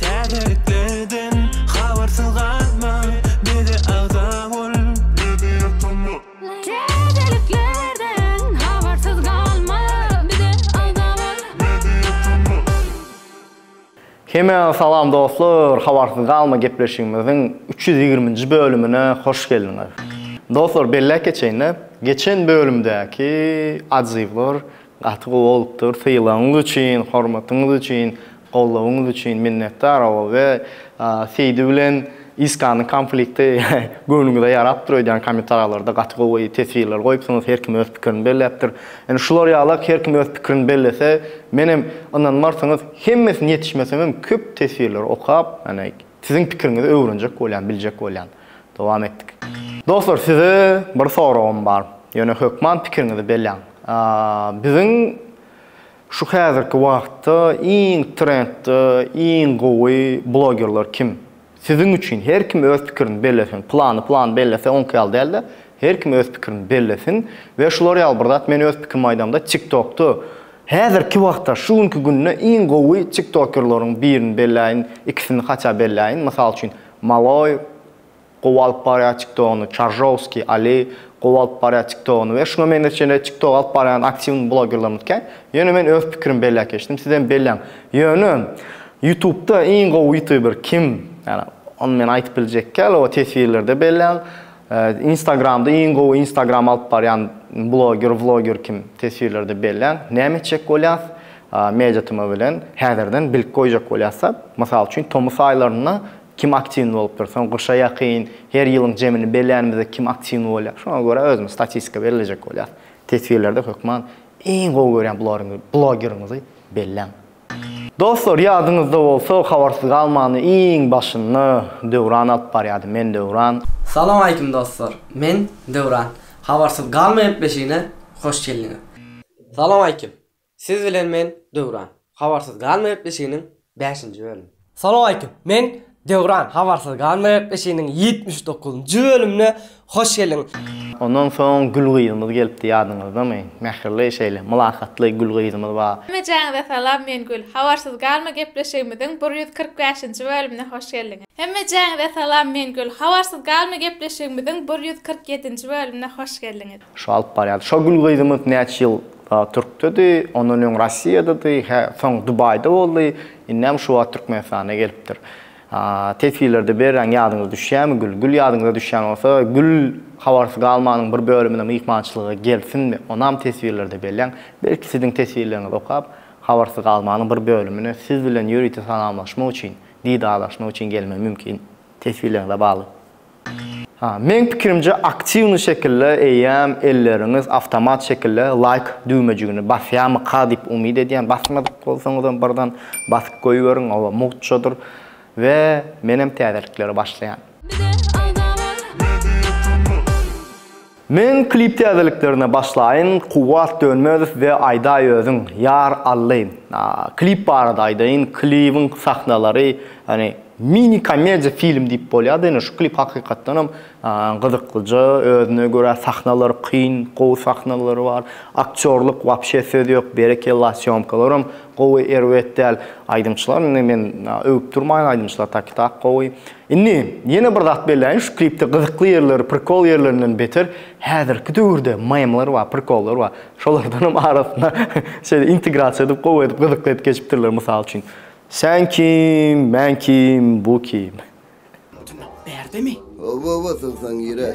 Täzelikleden habarsyz galma, bize agza bol, bizi ýatama. Täzeliklerden habarsyz galma, bize agza bol, bizi ýatama. Hemmäňize salam dostlar, Habarsyz galma gepleşigimiziň üç ýüz ýigriminji bölümine hoş geldiňiz. Dostlar belläp geçeýin-de, geçen bölümdäki adyzyblar Gaty gowy bolupdyr. Sylagyňyz üçin, hormatyňyz üçin, goldawyňyz üçin minnetdar. Ol we Seýdi bilen Iskanyň konflikti göwnüňize ýarapdyr öýdýän kommentariýalarda gaty gowy teswirler goýupsyňyz her kim öz pikirini belläpdir. Ýöne şular ýalak her kim öz pikirini bellese menem ynanmarsyňyz hemmesini ýetişmesemem köp teswirleri okap ýöne Siziň pikiriňizi öwrenjek bolýan, biljek bolýan. Dowam etdik. Dostlar size bir soragym bar. Ýöne hökman pikiriňizi belläň. Biziň şu häzirki wagtda iň trendde, iň gowy blogerler kim? Siziň üçin her kim öz pikirini bellesin. Plany plany bellese oňki ýaly dälde, her kim öz pikirini bellesin we şular ýaly bir zat men öz pikirimi aýdamda TikTokda Häzirki wagtda şu günki günde iň gowy tiktokerleriň birini belläýin ikisini haça belläýin mysal üçin Maloy gowy alyp barýar tiktogyny Çaržowskiý Ali gowy alyp barýar tiktogyny we şuňa meňzeş şeýle tiktok alyp barýan aktiwny blogerlermizkä ýöne men öz pikirim belläp geçdim sizem belläň ýöne ýutubda iň gowy ýutuber kim ýagny ony men aýtyp biljekkä ýaly o teswirlerde belläň Instagramda iň gowy instagram alyp barýan bloger vloger kim teswirlerde belläň näme etjek bolýas media tma bilen häzirden bilip goýjak bolýas da mysal üçin tomus aýlarynda kim aktiwny bolupdyr soň gyşa ýakyn her ýylyň jemini bellänimizde kim aktiwny bolýar şoňa görä özümiz statistika bellejek bolýas teswirlerde hökman iň gowy görýän blogeriňizi belläň. Dostlar ýadyňyzda bolsa habarsyz galmany iň başynda Döwran alyp barýady men Döwran. Salam aleýkum dostlar men Döwran habarsyz galma gepleşigine hoş geldiňiz. Salam aleýkum siz bilen men Döwran habarsyz galma gepleşiginiň bäşinji bölümi. Salowmaleýkim. Men Döwran habarsyz galmaýak işiniň ýetmiş dokuz njy bölümine hoş geldiň. Ondan soň gül gyzymyz gelipdi ýadyňyzdamy? Mähirli şeýle mylakatly gül gyzymyz bar. Hemmejaňyza salam men Gül. Habarsyz galma gepleşigimiziň bir ýüz kyrk bäşinji bölümine hoş geldiňiz. Hemmejaňyza salam men Gül. Habarsyz galma gepleşigimiziň bir ýüz kyrk ýedinji bölümine hoş geldiňiz. Şo alyp barýardy. Şo gül gyzymyz näçe ýyl Türkdedi, ondan öň Rossiýadady, hä soň Dubaýda boldy. Indem şu wagt Türkmenistana gelipdir. Teswirlerde berräň ýadyňyza düşýämi Gül? Gül ýadyňyza düşýän bolsa, Gül Habarsyz galmanyň bir bölümine myhmançylyga gelsinmi? Onam teswirlerde belläň. Belki siziň teswirleriňizi okap, Habarsyz galmanyň bir bölümine siz bilen ýörite salamlaşmak üçin, didarlaşmak üçin gelmegi mümkin. Teswirleriňize bagly. Ha, meň pikirimce aktiwny şekilde eýýäm elleriňiz awtomat şekilde laýk düwmejigini basýamyka diýip umyt edýän. Basmadyk bolsaňyzam birden basyp goýberiň, oba mugtçadyr we menem täzeliklere başlaýan. Men klip täzeliklerine başlaýyn Kuwwat Dönmezow we Aýdaý özüň Ýar Ally klip barada aýdaýyn klibiň sahnalary ýagny mini komediýa film diýip bolýar-da ýöne şu klip hakykatdan hem gyzyklyja özüne görä sahnalary kyn gowy sahnalary bar aktýorlyk wapşe söz ýok berekella sýomkalaram gowy erbet däl aýdymçylar indi men öwüp durmaýyn aýdymçylar taki tak gowy Indi ýene bir zat belläýin şu klipde gyzykly ýerleri prikol ýerlerinden beter häzirki döwürde memler bar prikollar bar şolardanam arasyna şeýle integrasiýa edip gowy edip gyzykly edip geçipdirler mysal üçin Sen kim men kim bu kim. Mutuny berdimi? Oba oba sygsaň gire.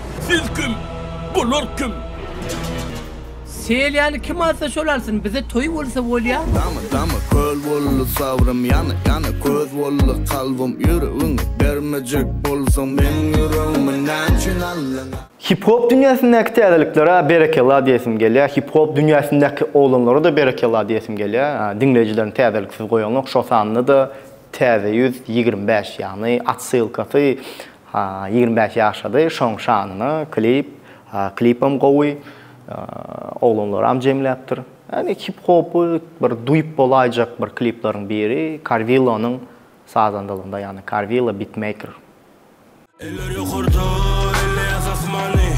Siz kim? Bular kim? Selýany kim alsa şol alsyn, bize toý bolsa bolýa. Dama dama köl boldy sabrym Ýana ýana köz boldy kalbym Ýüregiňi bermejek bolsaň Meň ýüregimi näçün aldyň a? Hip hop dünýäsindäki täzeliklere berekella diýesim gelýär. Hip hop dünýäsindäki oglanlara-da berekella diýesim gelýär. Diňleýjilerini täzeliksiz goýanok, şo sanda-da täze ýüz ýigrimi bäş ýagny otsylkasy Ýigrimi bäş ýaşady şoň şanyna klip klipem gowy oglanlaram jemläpdir ýagny hip hopy bir duýup bolaýjak bir kliplaryň biri karwillonyň sazandalygynda ýagny karwillo bitmeýker. Eller ýokarda elle ýaz asmany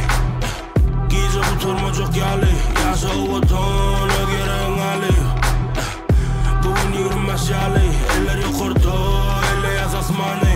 Gije gutarmajak ýaly Ýaşa o Watan öz ýeregiň aly Bu gün ýigrimi bäş ýaly Eller ýokarda elle ýaz asmany.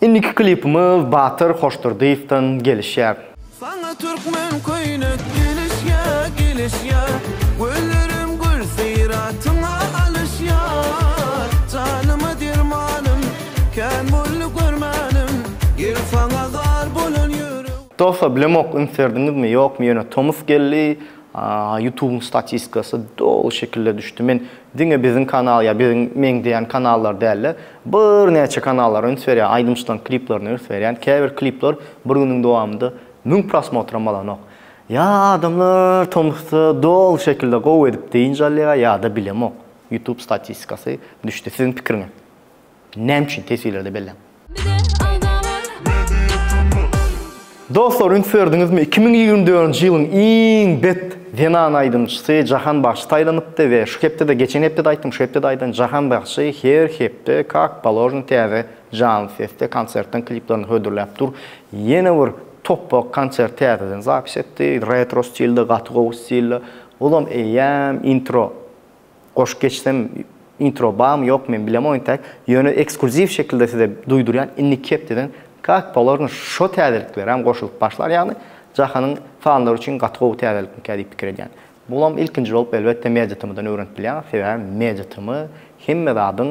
Indiki klipimiz Batyr Hoşdurdyýewden gelişýär. Saňa türkmen köýnek gelişýä, gelişýä, Güllerim gül syratyňa alyşýa. Janyma dermanym, kän boldy görmänim, Ýel saňa zar bolan ýürek. Dostlar bilemok ünsberdiňizmi ýokmy ýöne tomus geldi ýutubyň statistikasy doly şekilde düşdi men diňe biziň kanal ýa biziň meňzeýän kanallar dälde Birnäçe kanallar üns berýän, aýdymçylaryň kliplerine üns berýän, käbir klipler bir günüň dowamynda müň prosmotram alanok. Ýa adamlar tomusda doly şekilde gowy edip dynç alýar, ýa-da bilemok, YouTube statistikasy düşdi. Siziň pikiriňiz näme üçin? Teswirlerde belläň. Bize aldalar. Dostlar üns berdiňizmi iki müň ýigrimi dördünji ýylyň iň bet zenan aýdymçysy Jahan Bagşy saýlanypdy we şu hepdede geçen hepdede aýtdym şu hepdede aýdan Jahan Bagşy her hepde kak položno täze janly sesde konsertden kliplerini hödürläp dur ýene bir topbak konsert täzeden zapis etdi retro stilde gaty gowy stilde ozam eýýäm intro Goşup geçsem intro barmy ýokmy men bilemok intäk ýöne ekskluziw şekilde size duýdurýan indiki hepdeden kak polarno şo täzeliklerem goşulyp başlar ýagny jahanyň fanlary üçin gaty gowy täzelikmikä diýip pikir edýän bulam ilkinji bolup elbetde media tmdan öwrenip bilýäňiz sebäbi media tm hemme zadyň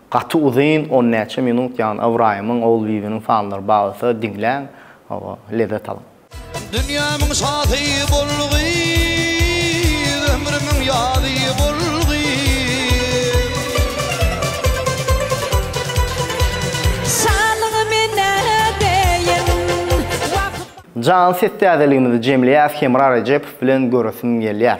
Gaty uzyn on näçe minut ýagny Ybraýymyň Ogulbibiniň sanlary bagysa diňläň hawa lezzet alyň. Dünýämiň şasy bol gyz ömrümiň ýazy bol gyz. Şalygy menä deýin wagyz. Jan ses täzeligimizi jemleýäs Hemra Rejepow bilen göresim gelýär.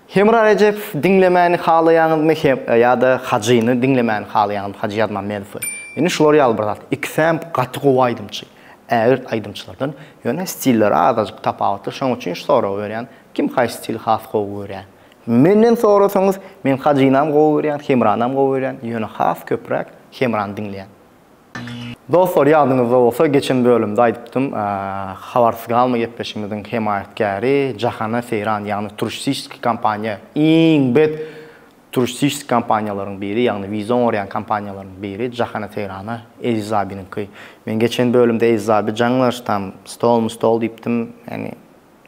Hemra Rejep diňlemäni halaýaňyzmy he ýa-da Hajyny diňlemäni halaýaňyzmy Hajy Ýazmammedowy? Indi şular ýaly bir zat. Ikisem gaty gowy aýdymçy. Ägirt aýdymçylardan. Ýöne stilleri azajyk tapawutly. Şoň üçin şu soragy berýän. Kim haýsy stili has gowy görýä? Menden sorasaňyz, men Hajynam gowy görýän, Hemranam gowy görýän. Ýöne has köpräk Hemrany diňleýän. Dostlar ýadyňyzda bolsa geçen bölümde aýdypdym habarsyz galma gepleşigimiziň hemaýatkäri Jahana Seýran ýagny turististik kompaniýa iň bet turististik kompaniýalaryň biri ýagny wiza oňarýan kompaniýalaryň biri Jahana Seýrana Eziz abynyňky men geçen bölümde Eziz aby jaňlaş tam stol mustol diýipdim ýagny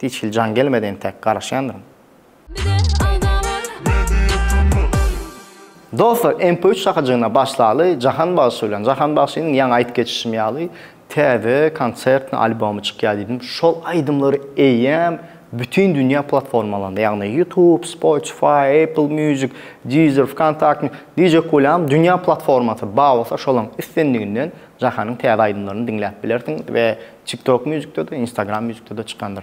hiç hili jaň gelmedi entäk garaşýandyryn. Dostlar MP üç şakajygyna başlaly Jahan bagşy bilen. Jahan bagşynyň ýaňy aýdyp geçişim ýaly täze konsertni albomy çykýar diýdim. Şol aýdymlary eýýäm bütin dünýä platformalarynda ýagny YouTube, Spotify, Apple Music, Deezer, Vkontakte, DJ Kulýam dünýä platformasy bar bolsa şolaň islendiginden Jahanyň täze aýdymlaryny diňläp bilersiňiz we TikTok Musicde-de, Instagram Musicde-de çykandyr.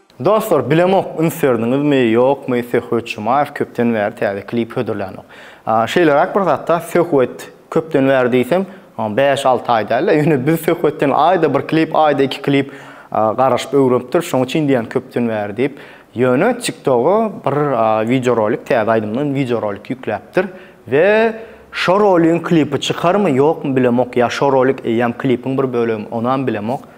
Dostlar bilemok üns berdiňizmi ýokmy Söhbet Jumaýew köpden bäri täze klip hödürlänok. Şeýleräk bir zatda Söhbet köpden bäri diýsem bäş alty aý dälde ýöne biz Söhbetden aýda bir klip aýda iki klip garaşyp öwrenipdiris şoň üçin diýýän köpden bäri diýip. Ýöne TikToga bir wideorolik täze aýdymdan wideorolik ýükläpdir we şo roligiň klipi çykarmy ýokmy bilemok ýa şo rolik eýýäm klipiň bir bölegi onam bilemok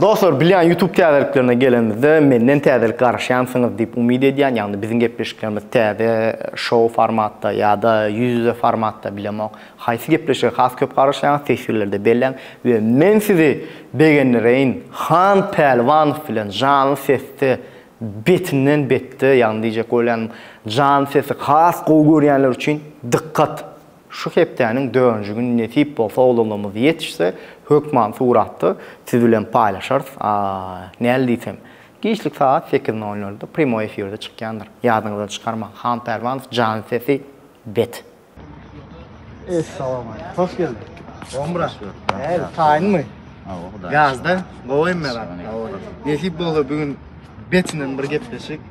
Dostlar bilýän YouTube täzeliklerine gelenimizde menden täzelik garaşýansyňyz diýip umyt edýän ýagny biziň gepleşiklerimiz täze şou formatda ýada ýüz ýüze formatda bilemok haýsy gepleşige has köp garaşýaňyz teswirlerde belläň we men sizi begendireýin Han Pälwanow bilen janly sesde betinden betde ýagny diýjek bolýanym janly sesi has gowy görýänler üçin dykkat. Şu hepdäniň dördünji güni nesip bolsa oglanlarymyz ýetişse hökman suratda siz bilen paýlaşarys. Näl diýsem. Giçlik sagat sekiz nol nolda prýamoý efirde çykýandyr. Ýadyňyzdan çykarmaň. Han Pälwanow jany sesi bet. Essalamualeýkum. Hoş geldiň. Gowymy Myrat? Näme taýynmy? Gazda. Gowymy Myrat? Gowy. Nesip bolsa bu gün betinen bir gepleşik.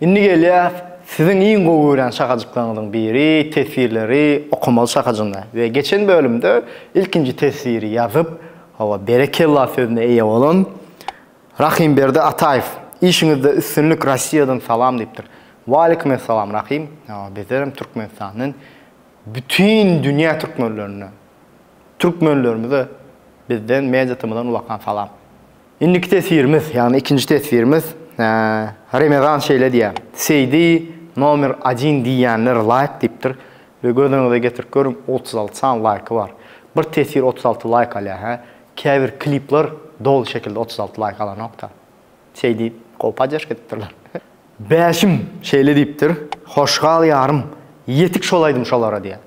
Indi gelýäs siziň iň gowy görýän şakajyklaryňyzyň biri, teswirleri okamaly şakajygyna we geçen bölümde ilkinji teswiri ýazyp, hawa berekella sözüne eýe bolan Rahimberdi Ataýew işiňizde üstünlik Rossiýadan salam diýipdir. Waleýkumessalam Rahim, hawa bizlerem Türkmenistandan bütin dünýä türkmenlerine, türkmenlerimize bizden, mediatymyzdan ulakan salam. Indiki teswirimiz, ýagny ikinji teswirimiz, Remezan şeýle diýýär, Seýdi nomer odin diýýänler laýk diýipdir we göz öňüňize getirip görüň, otuz alty sany laýky bar. Bir teswir otuz alty laýk alýar, hä? Käbir klipler doly şekilde otuz alty laýk alanok-da. Seýdi gowy podderžka edipdirler. Bäşim şeýle diýipdir, Hoş gal, ýarym, ýetik şol aýdym şolara diýýär.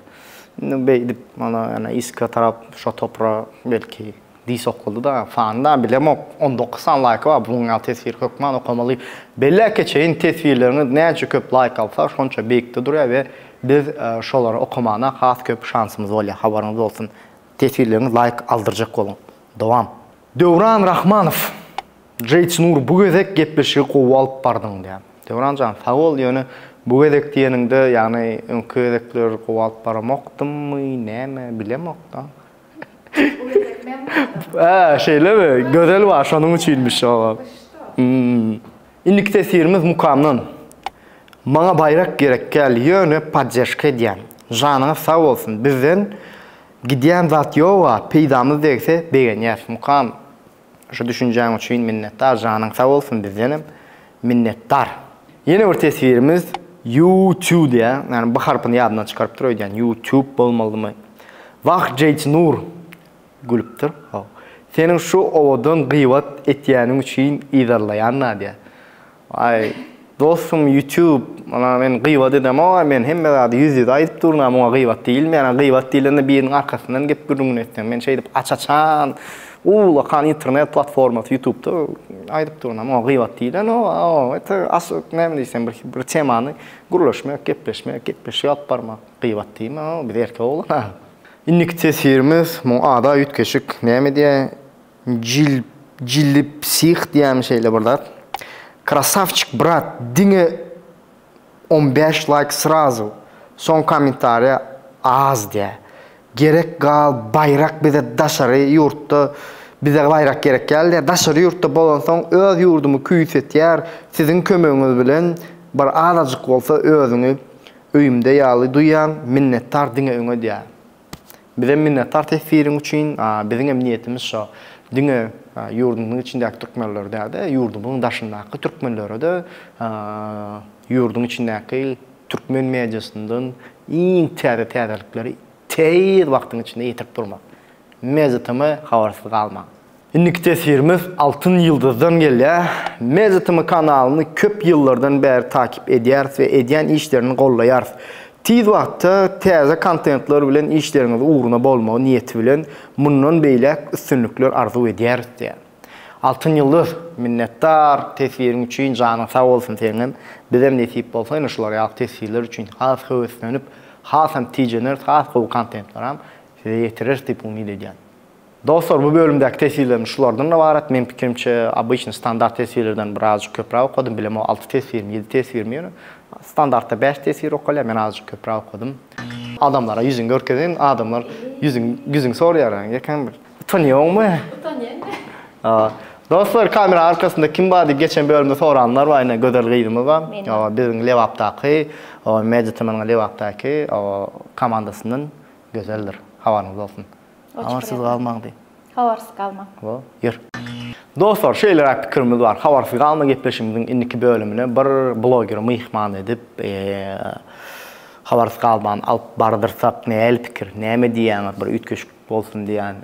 Indi beýdip, mana, ýene Iska tarap şo topra belki diý sokuldy-da, fanda, bilemok, on dokuz sany laýky bar, bunuň ýaly teswiri hökman okamaly. Belläp geçeýin, teswirleriňiz näçe köp laýk alsa, şonça beýikde durýar we biz şolary okamana has köp şansymyz bolýar, habaryňyz bolsun. Teswirleriňiz laýk aldyrjak boluň. Dowam! Döwran Rahmanow, Jeýtnur bu gezek gepleşigi gowy alyp bardyň diýýär. Döwran jan sag bol, ýöne bu gezek diýeniňde ýagny öňki gezekler gowy alyp baramokdymmy näme bilemokda. Bu gezek men bardyň. Hä şeýlemi? Gözel bar şonuň üçinmiş howa. Indiki teswirimiz Mukamdan. Maňa baýrak gerek däl, ýöne poddežka edýän. Janyňyz sag bolsun, bizden Gidýän zat ýoga peýdamyz degse begenýäs mukam şu düşünjäň üçin minnetdar janyň sag bolsun bizdenem minnetdar. Ýene bir teswirimiz you tube diýýär ýagny b harpyny ýadyndan çykarypdyr öýdýän you tube bolmalymy wah jeýtnur gülüpdir how seniň şu owadan gybat etýäniň üçin yzarlaýan nadýa Aý dostum ýutub ana men gybat edemok-a men hemme zady ýüz ýüze aýdyp durun-a muňa gybat diýilmeýär-a gybat diýlende biriniň arkasyndan gep gürrüňini etseň men şeýdip aç açan ullakan internet platformasy ýutubda aýdyp durun-a muňa gybat diýilenok-a o ete açyk näme diýseň bir bir temany gürleşmek gepleşmek gepleşik alyp barmak gybat diýme-a biz erkek oglan-a indiki teswirimiz muňa ada üýtgeşik näme diýýär Jilipsih diýýämi şeýle bir zat. Krasavçik brat diňe on bäş laýk srazu soň kommentariýa az diýä gerek gal baýrak bize daşary ýurtda bize baýrak gerek ýaly diýä daşary ýurtda bolansoň öz ýurdumy küýsetýär siziň kömegiňiz bilen bir azajyk bolsa özüňi öýümde ýaly duýýan minnetdar diňe öňe diýä. Bizem minnetdar teswiriň üçin. Biziňem niýetimiz şo. Diňe ýurdumyzyň içindäki türkmenlere däl-de, ýurdumyzyň daşyndaky türkmenlere-de ýurduň içindäki türkmen mediasyndan iň täze täzelikleri tiz wagtyň içinde ýetirip durmak. Media TM habarsyz galmaň. Indiki teswirimiz Altyn ýyldyzdan gelýär. Media TM kanalyny köp ýyllardan bäri takip edýäris we edýän işlerini gollaýarys. Tiz wagtda täze kontentler bilen işleriňiz ugruna bolmagy niýeti bilen mundan beýläk üstünlikler arzuw edýäris diýýär. Altyn ýyldyz, minnetdar teswiriň üçin, janyň sag bolsun seňňem. Bizem nesip bolsa ýene şular ýaly teswirler üçin has höweslenip, hasam tijeneris, has gowy kontentleram size ýetireris diýip umyt edýän. Dostlar bu bölümdäki teswirlerim şulardan ybarat meň pikirimçe obyçny standart teswirlerden bir azjyk köpräk okadym bilemok alty teswirmi ýedi teswirmi ýöne standartda bäş teswir okalýar men azjyk köpräk okadym adamlara ýüzüňi görkezen adamlar ýüzüň ýüzüň sorýar ýekeň bir utanýoňmy utanýan a dostlar kamera arkasynda kim bar diýip geçen bölümde soranlar bar ine gözel gyzymyz bar ýa biziň lebapdaky o media tmnyň lebapdaky o komandasyndan gözeldir habaryňyz bolsun. Habarsyz galmaň diý. Habarsyz galmaň. Hop, ýör. Dostlar, şeýleräk pikirimiz bar. Habarsyz galma gepleşigimiziň indiki bölümine bir blogeri myhman edip, habarsyz galmany alyp bardyrsak näl pikir, näme diýýäňiz, bir üýtgeşik bolsun diýýän.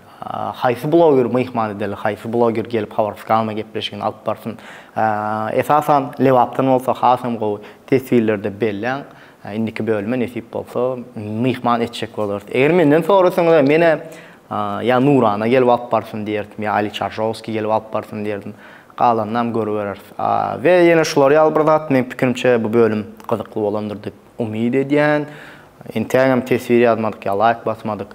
Haýsy blogeri myhman edeli, haýsy bloger gelip habarsyz galma gepleşigini alyp barsyn. Esasan, Lebapdan bolsa hasam gowy. Teswirlerde belläň. Indiki bölüme nesip bolsa myhman etjek bolarys. Eger menden sorasaňyzam menä ýa Nurana gelip alyp barsyn diýerdim, ýa Ali Çarjowskiý gelip alyp barsyn diýerdim. Galanynam görübereris. We ýene şular ýaly bir zat, meň pikirimçe bu bölüm gyzykly bolandyr diýip umyt edýän. Entägem teswir ýazmadyk ýa laýk basmadyk.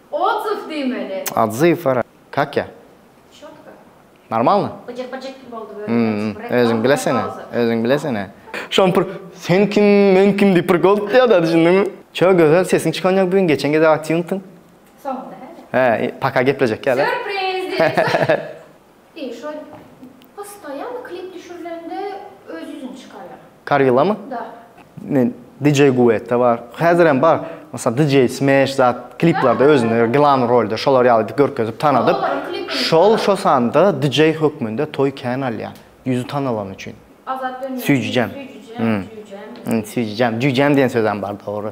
Odzyw diýmeli. Odzyw ara kak ya. Çotko. Normalno. Byjyk byjyk kim boldy böyle näçe bir. Özüň bilesene. Özüň bilesene. Şam bir sen kim men kim diýip bir gold diýada düşündiňmi. Ço gözel sesiň çykan ýok bugün geçen gezek aktýuntyň. Soňunda hä. Hä paka geplejek ýa da. Sürpriz diýip. Diýr şol postoýanno klip düşürilende öz ýüzüni çykarýar. Karillamy? Da. Men DJ Guetta bar. Häzir hem bar. Mysal DJ Smash zat kliplerde özüni glam rolde şolar ýaly edip görkezip tanadyp. Şol şo sanda DJ hökmünde toý kän alýa. Ýüzi tanalany üçin. Azat dönmez. Süýjüjäm. Süýjüjäm. Süýjüjäm. Süýjüjäm. Jüýjäm diýen sözem bar dogry.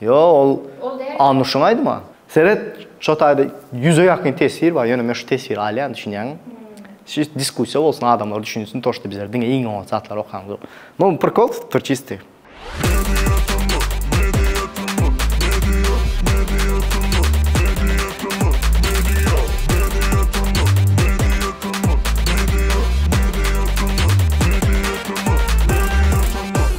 Ýo, ol Anuşyň aýdyma. Seret, şo taýda ýüze ýakyn teswir bar, ýöne men şu teswiri alýan, düşünýäňmi? Şeýdip diskussiýa bolsun, adamlar düşünsin, to, şda bizler diňe iň oňat zatlary okaýmyzok. Muny prikol tutupdyr çystyy.